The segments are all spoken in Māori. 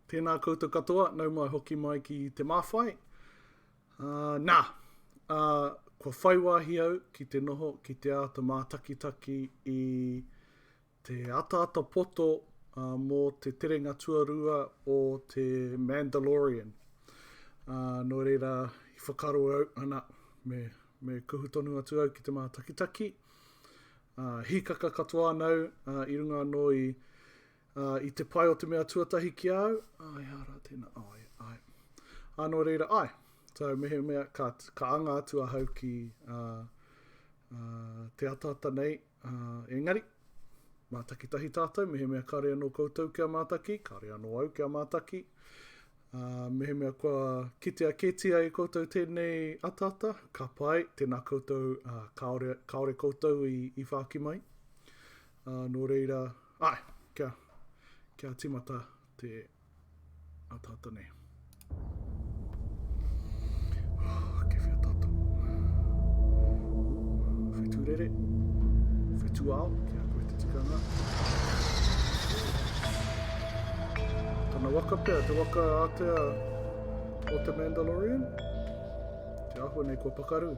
Tēnā koutou katoa, nau mai hoki mai ki Te Māwhai. Uh, nā, uh, kua whai wāhi au ki te noho, ki te āta mātakitaki i Te ataata poto mō te terenga tuarua o te Mandalorian. Nō reira, i whakaaro au, ana, me, me kuhu tonu atu au ki te mātakitaki. Uh, hīkaka katoa anau uh, i runga anō i, uh, i te pai o te mea tuatahi ki au. Ai, ara, tēnā, ai, ai. Anō reira, ai. So, mehe mea, ka, ka anga atu ahau ki uh, uh, te ataata nei, Ā, engari, mātakitahi tātou, mehemea kāore anō koutou kia mātaki, kāore anō au kia mātaki, ā, mehemea kua kitea kētia e koutou tēnei ataata, ka pai, tēnā koutou, ā, kāore, kāore koutou i, i whāki mai. Ā, nō reira, āe, kia, kia tīmata te, Ata ata nei. Kewhia tata. Whetu rere. Whetu ao. Kia koe te tikanga. Tana waka pia, te waka atea o te Mandalorian. Te ahua nei kua pakaru.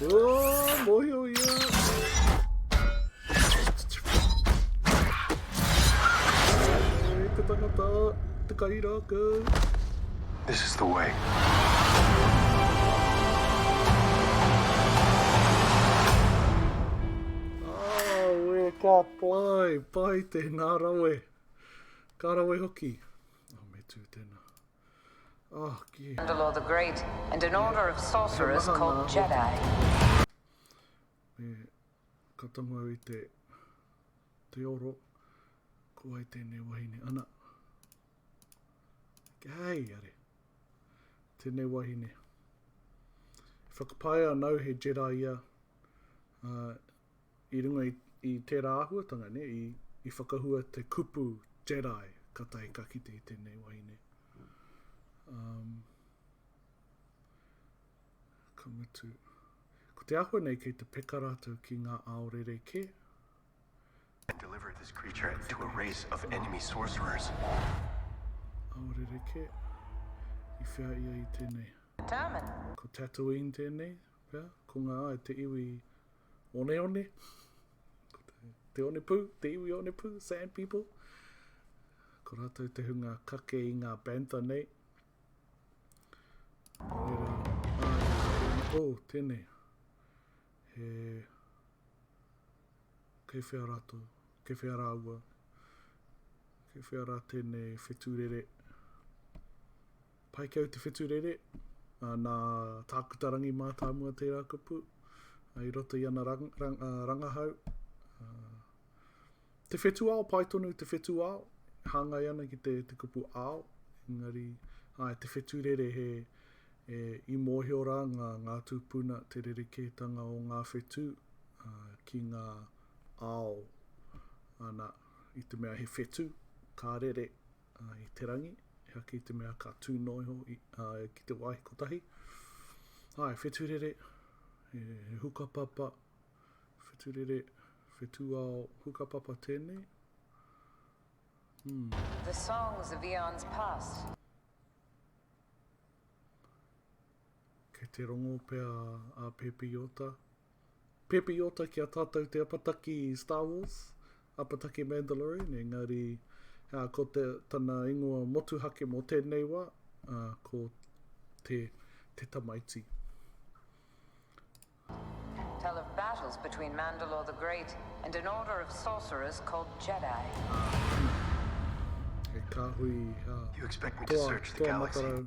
Oh, mōhio ia! This is the way. Awe, ka pai, pai tēnā rawe. Ka rawe hoki. Oh, me tū tēnā. Oh, ki. Andalor the Great and an order of sorcerers called Jedi. Me ka tonga i te te oro ko ai tēnei wahine ana. Ke hei are. Tēnei wahine. Whakapae anau he Jedi ia. Uh, I runga i, i tērā āhuatanga nei, i, i whakahua te kupu Jedi ka tae ka kite i tēnei wahine. Um, ka mutu. Ko te ahua nei kei te peka rātou ki ngā ao rerekē. I delivered this creature to a race of enemy sorcerers. Ao rerekē. I whea ia i tēnei. Determined. Ko Tatooine tēnei. Pea, ko nga ai te iwi oneone, ko te, te onepu, te iwi onepu, sand people, ko ratou te hunga kake i nga bantha nei. Nō reira, ai, oh, tēnei, he, kei whea ratou, kei whea rāua, kei whea rā tēnei whetūrere, Paikau Te Wheturere, ā, nā Tākuta Rangi Mātāmua tērā kupu, ā, i roto i ana rang, rang, ā, rangahau. Ā, te whetuao, pai tonu te whetuao, hāngai ana ki te, te kupu ao, engari, ā, te wheturere he, e, i mōhio rā ngā, ngā tūpuna, te rerekētanga o ngā whetū, ā, ki ngā ao, ana, i te mea he whetū, ka rere, i te rangi, he ake i te mea ka tū noa iho ki te wāhi kotahi. Ā, e whetūrere, e hukapapa, whetūrere, whetūao, hukapapa tēnei. Hmm. The songs of eons past. Kei te rongo pea a Pēpi Ota Pēpeiota ki a tātou te apataki Star Wars, apataki Mandalorian, engari uh, ko te, tana ingoa motuhake mō tēnei wā, uh, ko te, te tamaiti. Tell of battles between Mandalore the Great and an order of sorcerers called Jedi. He kāhui uh, toa, toa matarau.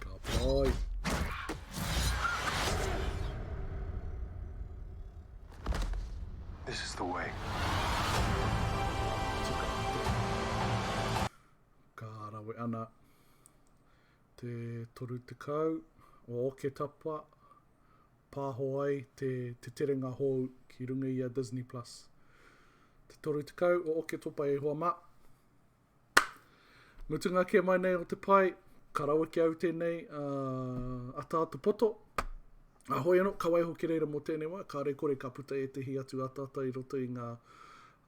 Ka pai. This is the way. Ka rawe ana. Te toru te kau. O oke tapa. Pāho ai te Te Terenga Hōu ki runga i a Disney Plus. Te 30 o Oketopa e hoa mā. Mutunga kē mai nei o te pae, ka rawe ki au tēnei uh, ataata poto. Ahoi anō, ka waiho ki reira mō tēnei wā, kāre kore ka puta ētehi atu ataata i roto i ngā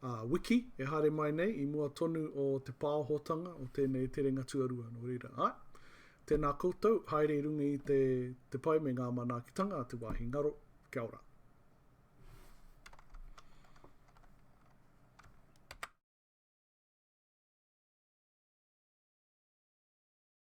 Ā, wiki e haere mai nei, i mua tonu o te pāohotanga o tēnei terenga tuarua, nō reira, āe, tēnā koutou, haere i runga i te, te pai me ngā manaakitanga a te wāhi ngaro. Kia ora.